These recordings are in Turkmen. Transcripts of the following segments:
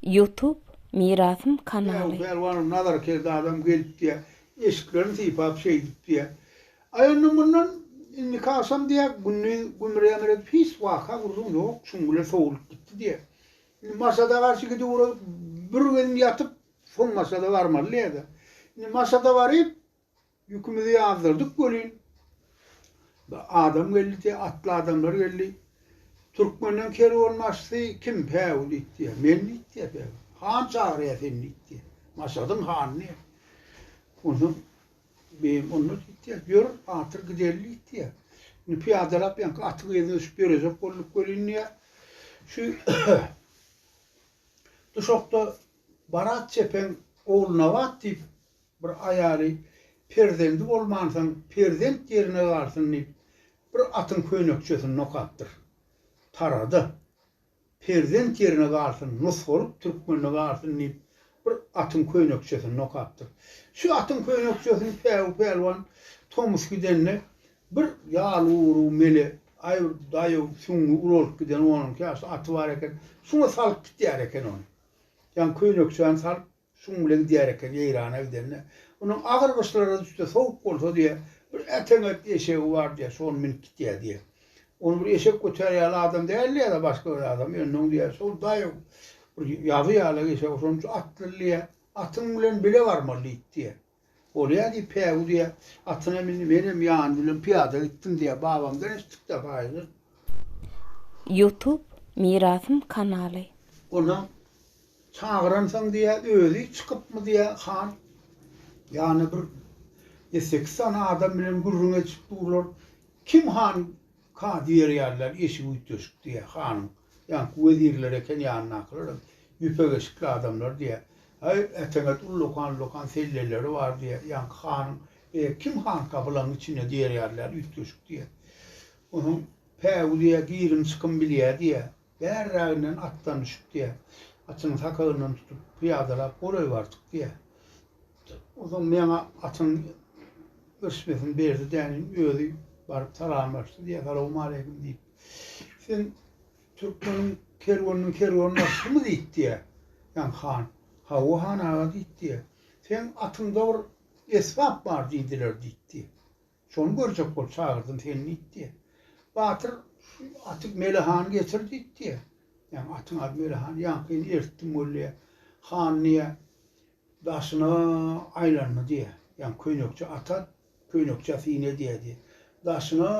Youtube Mirasym kanaly. Pälwanym Nazar Kerdi adam gelip diýýär. Eşiklerini sypap şeýdip diýýär. Aýandan mundan indiki agşam diýýär gündiz gümür-ýamyr edip hiç waka gürrüň ýok şuň bile sowulyp gitdi diýýär. Indi Maşada garşy gidip ugradyp bir gezim ýatyp soň Maşada barmaly diýýär-de. Indi Maşada baryp Ýükümizi ýazdyrdyk welin, adam geldi, atly adamlar geldi. Türkmenden kerwenbaşysy kim? Päwü diýdi. Men diýdi Päwü. Han çagyrýar seni diýdi. Maşadyň hanyny. Onsoň beýim onda diýdi. Ýör, atyr gideli diýdi. Indi pyýadalap ýaňky atyň yzyna düşüp ýörejek bolduk welin diýdi. Şu duşakda Barat çepeň ogly Nabat diýip Bir aýaly, Perzendi bolmansoň, perzent ýerine galsyn diýip, bir atyň köýnekçesini nokapdyr. Tarada, Perzent ýerine galsyn, nusgalyk türkmende galsyn diýip, bir atyň köýnekçesini nokapdyr. Şu atyň köýnekçesini Päwü pälwan tomus gidende, bir ýaly-urugy mele, aý bir daýaw, süňňi ulalyp giden onuňky ýaşly aty bar eken, şuňa salyp gitýär eken ony. Ýaňy köýnekçäni salyp, Şuň bile gidýär eken Eýrana gidende. Onuň agyr gyşlara düşse, sowuk bolsa diýýär, bir äteňet eşegi bar diýýär, şony münüp gitýär diýýär. Ony bir eşek götärýär ýaly adam däldi ýa-da başga bir adam. Ýöne oň diýýär, şol daýaw bir ýaby ýaly eşegi şonuň üçin atlydy diýýär. Atyň bilen bile barmaly diýdi diýýär. Bolýa diýip, Päwü diýýä, atyna mindi, menem ýany bilen pyýada gitdim diýýä, babamdan eşitdik-dä paýyzy. Youtube Mirasym kanaly. Onam, Çagyransyň diýýä, özi çykypmy diýýä, han. Ýany bir ýedi-sekiz sany adam bilen gürrüň edişip durlar. Kim han? Ka diýerýärler, eşik üýtgeşik diýýär hanyň. Ýaňky wezirler eken, ýanyndakylaram ýüpek eşikli adamlar diýýär. Aý, äteňet ullakan-ullakan selleleri bar diýýär. Ýaňky hanyň, E, kim hanka bulaň içinde diýerýärler, üýtgeşik diýýär. Onsoň päwü diýýär, girim-çykym bilýär diýýär. Bärräginden atdan düşüp diýýär. Atyň sakagyndan tutup, pyýadalap golaý bardyk diýýär. Soň meňa atyň ösmesini berdi däniň, özi baryp salamlaşdy diýýär, salawmaleýkim diýip. Sen türkmeniň kerweniniň kerweni başymy diýip diýýär. Ýaň han, Hawa han aga diýip diýýär. Seň atyňda bir esbap bar diýdiler diýip diýýär. Şony görjek bol, çagyrdym seni diýdi. Batyr şu aty Melehany getir diýdi. Ýa atyň ady Melehan, ýaňkyny eritdim weli. Han diýä, daşyna aýlandy diýä. Ýa köýnekçe ata, köýnekçe sine diýä diýä. Daşyna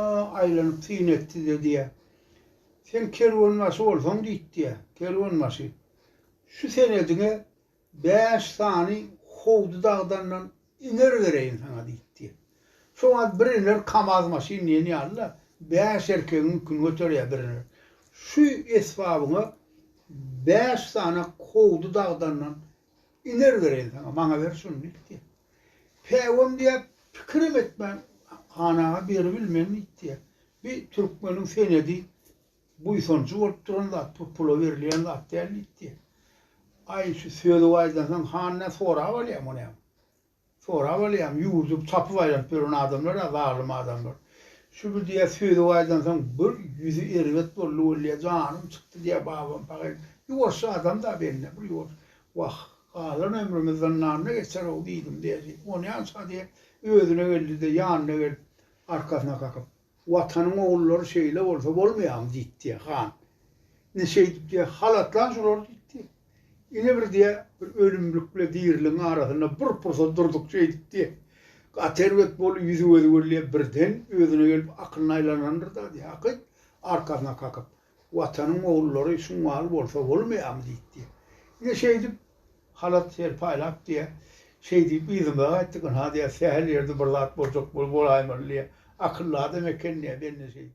aýlanyp syn etdi-de diýä. Sen kerwenbaşy bolsaň diýdi diýä. Kerwenbaşy, şu senediňe Bäş sany howdy dagdandan iner bereýin saňa diýipdi. Şo wagt bir iner kamaz maşyn diýen ýaly-da, bäş erkegiň ýüküni göterýär bir iner. Şu esbabyňa bäş sany howdy dagdandan iner bereýin saňa, maňa ber şuny diýipdi. Päwem diýýär, pikirem etmän, han aga beribilmen diýipdi. Bi türkmeniň senedi Buýsanjy bolup duran zat bu, pula berilýän zat däl diýdi. Aý, şu sözi aýdansoň, han nä sorap alýar muny hem? Sorap alýarmy? Ýurdy tapyp aýlanyp ýören adamlar-a zalym adamlar. Şu bir diýýär, sözi aýdansoň, bir ýüzi erbet boldy weli, janym çykdy diýýär babam pahyr. Ýuwaş adam-da bende, bir ýuwaş. Wah, galan ömrümi zyndanda geçer-ow diýdim-de, ony ýansady, özüne geldi-de, ýanyna gelip, arkasyna kakyp. Watanyň ogullary şeýle bolsa bolmaýamy diýipdi, han. Indi şeýdip diýýär, halatlan şolary diýipdi. Ine bir diýýär, bir ölümlik bile diriligiň arasynda bir pursat durduk şeýdip diýýär. Gaty erbet boldy, ýüzi-gözi gürleýär, birden özüne gelip akylyny aýlanandyr-da diýýär, hakyt, arkasyna kakyp. Watanyň ogullary şuň ýaly bolsa bolmaýarmy diýipdi. Ine şeýdip, halat şeýle paýlap diýýär. Şeý diýip yzyma gaýtdyk. Ynha diýýär, sähel ýerde bir zat boljak bolaýmaly diýýär. Akylly adam eken diýýär, belli şeýdip.